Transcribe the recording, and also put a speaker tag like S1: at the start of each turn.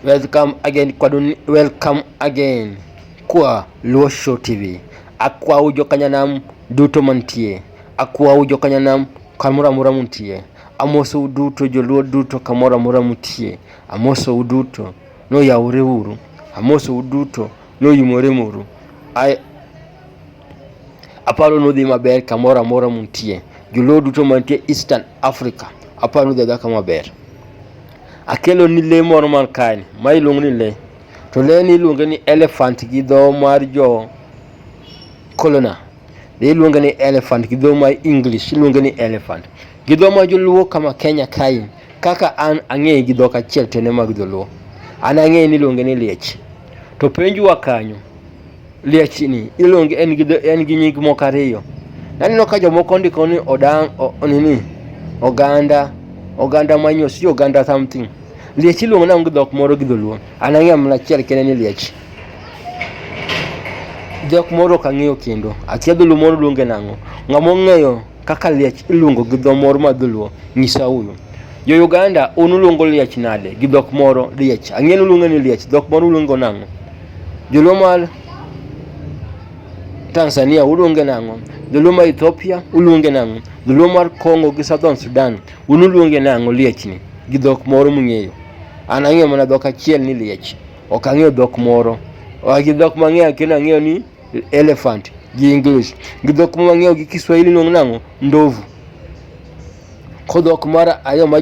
S1: Welcome again kwa dun, welcome again kwa Luo Show TV. Akwa ujo kanyanam duto mantie. Akwa ujo kanyanam kamora mora muntie. Amoso uduto joluo duto kamora mora mutie. Amoso uduto no yaure uru. Amoso uduto no yumore muru. I Aparo nudhi maber kamoro amora muntie. Joluo duto mantie Eastern Africa, aparo nudhi adhaka maber. Akelo ni le moro man kae ni, ma iluongo ni le. To le ni iluonge ni elephant gi dho mar jo colona. Le iluonge ni elephant gi dho mar English iluonge ni elephant. Gi dho mar joluo kama Kenya kae, kaka an ang'eye gi dhok achiel to en e mag joluo. An ang'eye ni iluonge ni liech. To penjwa kanyo, lie chini iluonge en gi en gi nying moko ariyo naneno ka jomoko ndiko ni odang o- o- nini oganda oganda manyo si oganda something liech iluongo nango gi dhok moro gi dholuo an ang'eyo mana achiel kende ni liech dhok moro ok ang'eyo kendo akia dholuo moro luonge nang'o ng'ama ong'eyo Kaka liech iluongo gi dho moro ma dholuo, nyisa unu. Jo Uganda, un uluongo liech nade? Gi dhok moro, liech. Ang'e uluongo ni liech, dhok moro uluongo nang'o? Joluo mar Tanzania uluonge nang'o? Joluo mar Ethiopia uluonge nang'o? Joluo mar Congo gi Southern Sudan, un uluonge nang'o liechni? Gi dhok moro mung'eyo. An ang'eyo mana dhok achiel ni liech. Ok ang'eyo dhok moro. Gi dhok mang'eyo kendo ang'eyo ni elephant gi English gi dhok mwang'eyo gi Kiswahili nongnang'o ndovu kodhok mar ariyo ma